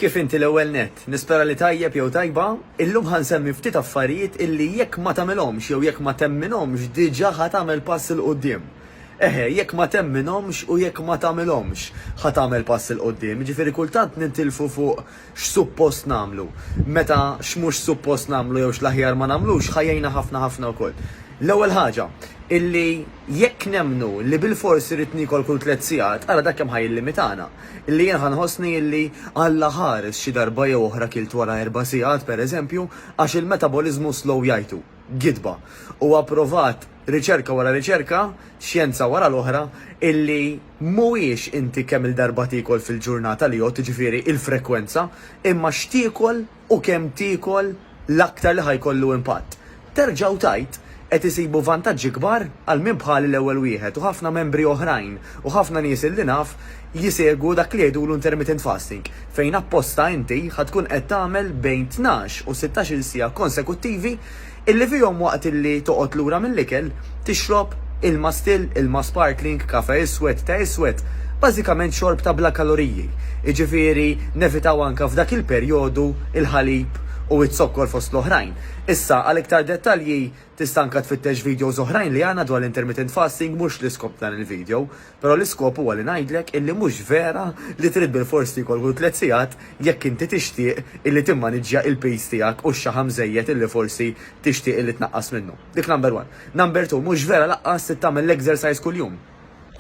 Kif inti l-ewwel nett? Nispera li tajjeb jew tajba. Illum ħa nsemmi ftit affarijiet illi jekk ma tagħmilhomx jew jekk ma temminhomx diġà ħa tagħmel pass 'il quddiem. Eħe, jekk ma temminhomx u jekk ma tagħmilhomx ħa tagħmel pass 'il quddiem. Jiġifieri kultant nintilfu fuq x'suppost nagħmlu, meta x'mhux suppost nagħmlu jew x'l-aħjar ma nagħmlux ħa jgħinna ħafna ħafna wkoll. L-ewwel ħaġa, illi jekk nemmnu li bilfors irrid niekol kull tliet sigħat, ara dak kemm ħa jillimitana. Illi jien ħa nħossni illi Alla ħares xi darba jew oħra kilt wara erba' sigħat, pereżempju, għax il-metaboliżmu slow jgħidu. gidba. Huwa pprovat riċerka wara riċerka, xjenza wara l-oħra, illi mhuwiex inti kemm-il darba tiekol fil-ġurnata li jgħodd, jiġifieri il-frekwenza, imma x'tiekol u kemm tiekol l-aktar li ħa jkollu impatt. Terġa' u tgħid, qed isibu vantaġġi kbar għal min bħali l-ewwel wieħed u ħafna membri oħrajn u ħafna nies illi naf, Jsegwu dak li jgħidulu intermittent fasting, fejn apposta inti ħa tkun qed tagħmel bejn tnax u sittax-il siegħa konsekuttivi illi fihom waqt illi toqgħod lura mill-ikel, tixrob ilma still, ilma sparkling, kafè iswed, te iswed, bażikament xorb ta' bla kaloriji. Jiġifieri nevitaw anke f'dak il-perjodu l-ħalib u z-zokkor fost l-oħrajn. Issa għal iktar dettalji tista' anke tfittex videos oħrajn li għandna dwar l-intermittent fasting mhux l-iskop ta' dan il-video. Però l-iskop huwa li ngħidlek illi mhux vera li trid bilfors tiekol kull tliet sigħat jekk inti tixtieq illi timmaniġġja il-piż tiegħek u x-xaħam żejjed illi forsi tixtieq illi tnaqqas minnu. Dik number one. Number two, mhux vera laqqas trid tagħmel l-exercise kuljum.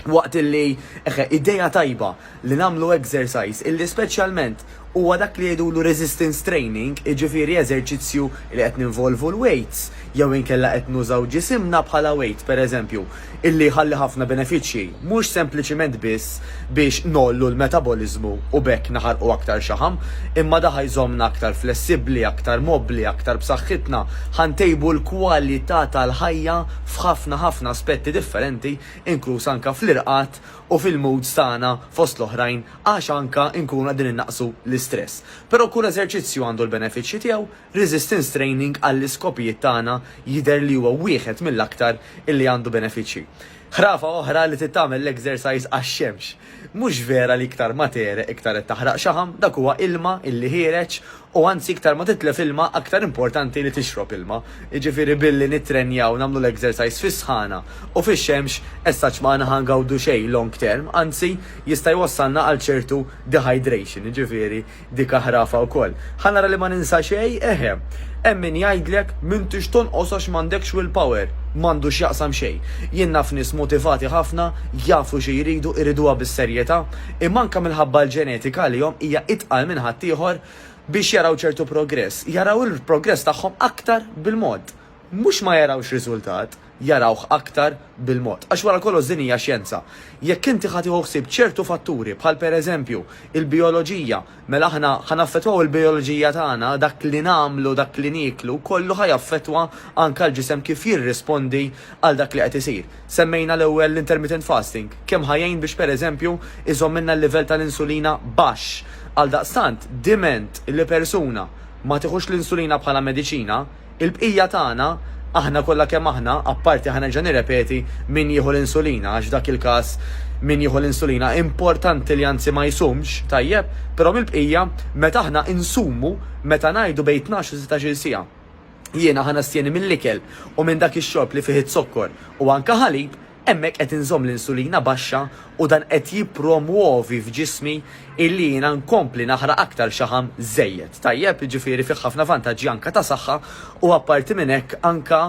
Waqt illi, eħe, idea tajba li nagħmlu exercise illi speċjalment, Huwa dak li jgħidulu resistance training, jiġifieri eżerċizzju li qed ninvolvu l-weights jew inkella qed nużaw ġisimna bħala weight, pereżempju, illi jħalli ħafna benefiċċji, mhux sempliċiment biss biex ngħollu l-metaboliżmu u b'hekk naħarqu aktar xaħam, imma da ħa jżommna aktar flessibbli, aktar mobbli, aktar b'saħħitna, ħa ntejbu l-kwalità tal-ħajja f'ħafna ħafna aspetti differenti, inkluż anke fl-irqad u fil-moods tagħna fost l-oħrajn għax anke nkunu qegħdin innaqqsu l-istress. Però kull eżerċizzju għandu l-benefiċċji tiegħu, resistance training għall-iskopijiet tagħna jidher li huwa wieħed mill-aktar illi għandu benefiċċji. Ħrafa oħra li trid tagħmel l-exercise għax-xemx. Mhux vera li iktar ma tegħreq iktar qed taħraq xaħam, dak huwa ilma illi ħiereġ U anzi iktar ma titlef ilma aktar importanti li tixrob ilma. Jiġifieri billi nittrenjaw nagħmlu l-exercise fis-sħana u fix-xemx essaċ ma aħna ħa ngawdu xejn long term, anzi jista' jwassalna għal ċertu dehydration, jiġifieri dik aħrafa wkoll. Ħa nara li ma ninsa xejn, eħe. Hemm min jgħidlek m'intix tonqos għax m'għandekx will power. M'għandu x'jaqsam xejn. Jien naf nies motivati ħafna, jafu xi jridu, iriduha bis-serjetà, imma anke minħabba l-ġenetika għalihom hija itqal minn ħaddieħor biex jaraw ċertu progress, jaraw il-progress tagħhom aktar bil-mod. Mhux ma jarawx riżultat, jarawh aktar bil-mod. Għax wara kollox din hija xjenza. Jekk inti ħa tieħu ħsieb ċertu fatturi bħal pereżempju il-bijoloġija, Mela aħna ħa naffettwaw il-bijoloġija tagħna, dak li nagħmlu, dak li nieklu, kollu ħa jaffettwa anke l-ġisem kif jirrispondi għal dak li qed isir. Semmejna l-ewwel l-intermittent fasting, kemm ħa jgħin biex pereżempju jżommilna l-livell tal-insulina baxx. Għaldaqstant, diment li persuna ma tieħux l-insulina bħala mediċina, Il-bqija tagħna, aħna kollha kemm aħna, apparti ħa nerġa' nirrepeti, min jieħu l-insulina, għax f'dak il-każ min jieħu l-insulina importanti li anzi ma jsumx, tajjeb, però mill-bqija, meta aħna insumu, meta ngħidu bejn tnax u sittax-il siegħa, jiena ħa nastjeni mill-ikel u minn dak ix-xorb li fih iz-zokkor u anke ħalib, Hemmhekk qed inżomm l-insulina baxxa u dan qed jippromwovi f'ġismi illi jiena nkompli naħraq aktar xaħam żejjed. Tajjeb? Jiġifieri fih ħafna vantaġġi anke ta' saħħa u apparti minn hekk anke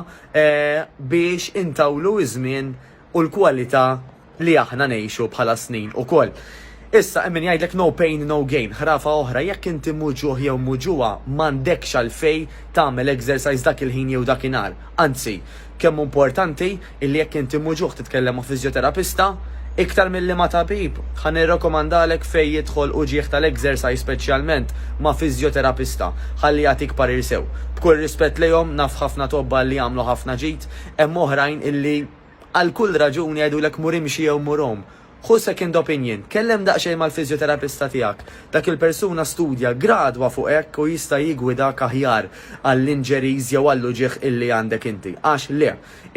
biex intawlu ż-żmien u l-kwalità li aħna ngħixu bħala snin ukoll. Issa hemm min jgħidlek no pain no gain, ħrafa oħra, jekk inti mhu ġuħ jew mhu ġuwa, m'għandekx għalfejn tagħmel exercise dak il-ħin jew dak inhar. Anzi, kemm hu importanti illi jekk inti mhu ġuħ titkellem ma' fiżjoterapista, iktar milli ma' tabib, ħa nirrakkomandalek fejn jidħol uġigħ tal-exercise speċjalment ma' fiżjoterapista, ħalli jagħtik parir sew. B'kull rispett lejhom, naf ħafna tobba illi jagħmlu ħafna ġid, hemm oħrajn illi għal kull raġuni jgħidulek mur imxi jew mur għum, Ħu second opinion, tkellem daqsxejn mal-fiżjoterapista tiegħek. Dak il-persuna studja gradwa fuq hekk u jista' jiggwidak aħjar għall-injuries jew għall-uġigħ illi għandek inti. Għax le,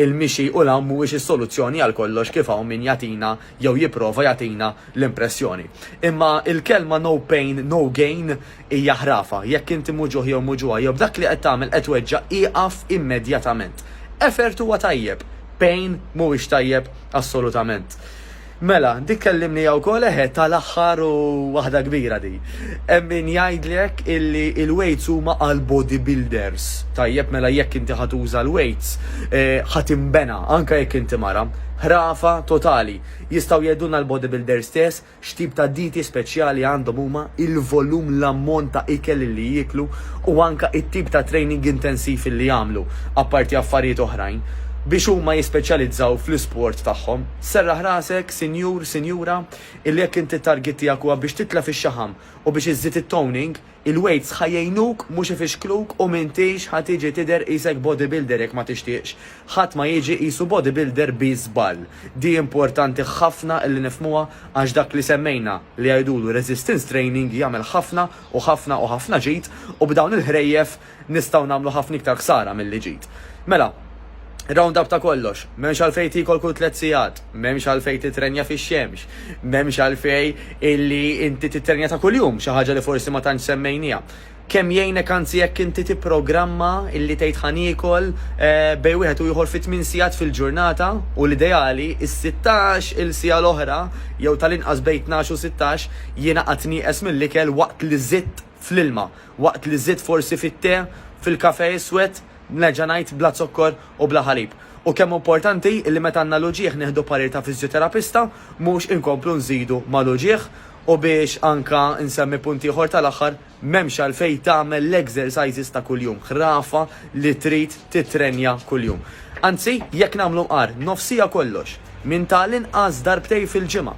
il-mixi u l-għawm mhuwiex is-soluzzjoni għal kollox kif hawn min jagħtina jew jipprova jagħtina l-impressjoni. Imma il-kelma no pain, no gain Hija ħrafa. Jekk inti muġugħ jew muġugħa jew b'dak li qed tagħmel qed tweġġa' ieqaf immedjatament. Effort huwa tajjeb. Pain mhuwiex tajjeb assolutament. Mela, dik kellimniha wkoll eħe tal-aħħar u waħda kbira di. Hemm min jgħidlek illi l-weights huma għal body builders. Tajjeb mela jekk inti ħa tuża l-weights ħa tinbena anke jekk inti mara. Ħrafa totali. Jistgħu jgħidulna l-body builders stess X'tip ta' dieti speċjali għandhom huma, il-volum, l-ammont ta' ikel li jieklu u anke it-tip ta' training intensiv li jagħmlu, apparti affarijiet oħrajn, biex huma jispeċjalizzaw fl-isport tagħhom. Serraħ rasek, sinjur, sinjura, illi jekk inti t-target tiegħek huwa biex titla' fix-xaħam u biex iżżid it-toning, Il-weights ħa jgħinuk mhux ifixkluk u m'intix ħa tiġi tidher qisek bodybuilder jekk ma tixtieqx. Ħadd ma jiġi qisu bodybuilder bi żball. Di importanti ħafna li nifhmuha għax dak li semmejna li jgħidulu resistance training jagħmel ħafna u ħafna u ħafna ġid u b'dawn il-ħrejjef Nistgħu nagħmlu ħafna iktar ħsara milli ġid. Mela, round-up ta' kollox, m'hemmx għalfejn tiekol kull tliet sigħat, m'hemmx għalfejn titrenja fix-xemx, m'hemmx għalfejn illi inti titrenja ta' kuljum, xi ħaġa li forsi ma tantx semmejnieha. Kemm jgħinek anzi jekk inti tipprogramma illi tgħid ħa niekol bejn wieħed u ieħor fi tmien sigħat fil-ġurnata u l-ideali s-sittax il siegħa l-oħra jew tal-inqas bejn tnax u sittax jiena qatt nieqes mill-ikel waqt li żidt fl-ilma, waqt li żidt forsi fit-te, fil-kafè iswed, nerġa' ngħid, bla zokkor u bla ħalib. U kemm hu importanti li meta għandna l-uġigħ nieħdu parir ta' fiżjoterapista, mhux inkomplu nżidu mal-uġigħ. U biex anke nsemmi punt ieħor tal-aħħar, m'hemmx għalfejn tagħmel l-exercises ta' kuljum, ħrafa li trid tittrenja kuljum. Anzi, jekk nagħmlu mqar, nofsija kollox. minn ta' l-inqas darbtejn fil-ġimgħa,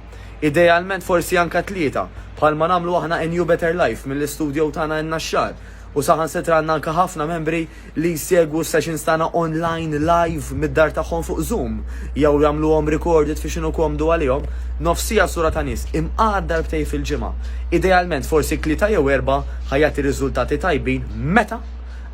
idealment forsi anke tlieta, bħalma nagħmlu aħna in New Better Life mill-istudio tagħna in-Naxxar, u saħansitra għandna anke ħafna membri li jsegwu s-sessions tagħna online live mid-dar tagħhom fuq Zoom jew jagħmluhom recorded fi x'inhu komdu għalihom. Nofsija sura ta' nies imqagħad darbtejn fil-ġimgħa, idealment forsi tlieta jew erbgħa ħa jagħti riżultati tajbin meta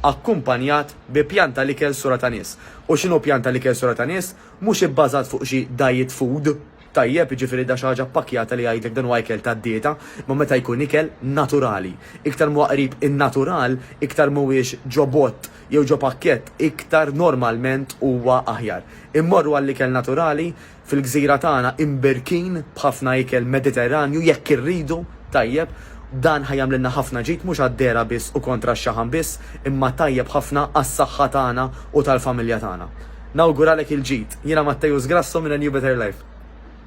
akkumpanjat bi pjan ta' l-ikel sura ta' nies. U x'inhu pjan ta' l-ikel sura ta' nies? Mhux ibbażat fuq xi diet food, tajjeb, jiġifieri da xi ħaġa ppakkjata li jgħidlek dan huwa ikel tad-dieta, imma meta jkun ikel naturali. Iktar m'huwa qrib in-natural, iktar m'huwiex ġo bott jew ġo pakkett, iktar normalment huwa aħjar. Immorru għall-ikel naturali, fil-gżira tagħna imbirkin b'ħafna ikel Mediterranju, jekk irridu, tajjeb, Dan ħa jagħmlilna ħafna ġid mhux għad-dehra biss u kontra x-xaħam biss, imma tajjeb ħafna għas-saħħa tagħna u tal-familja tagħna. Nawguralek il-ġid. Jiena Matteus Grasso minn A New Better Life.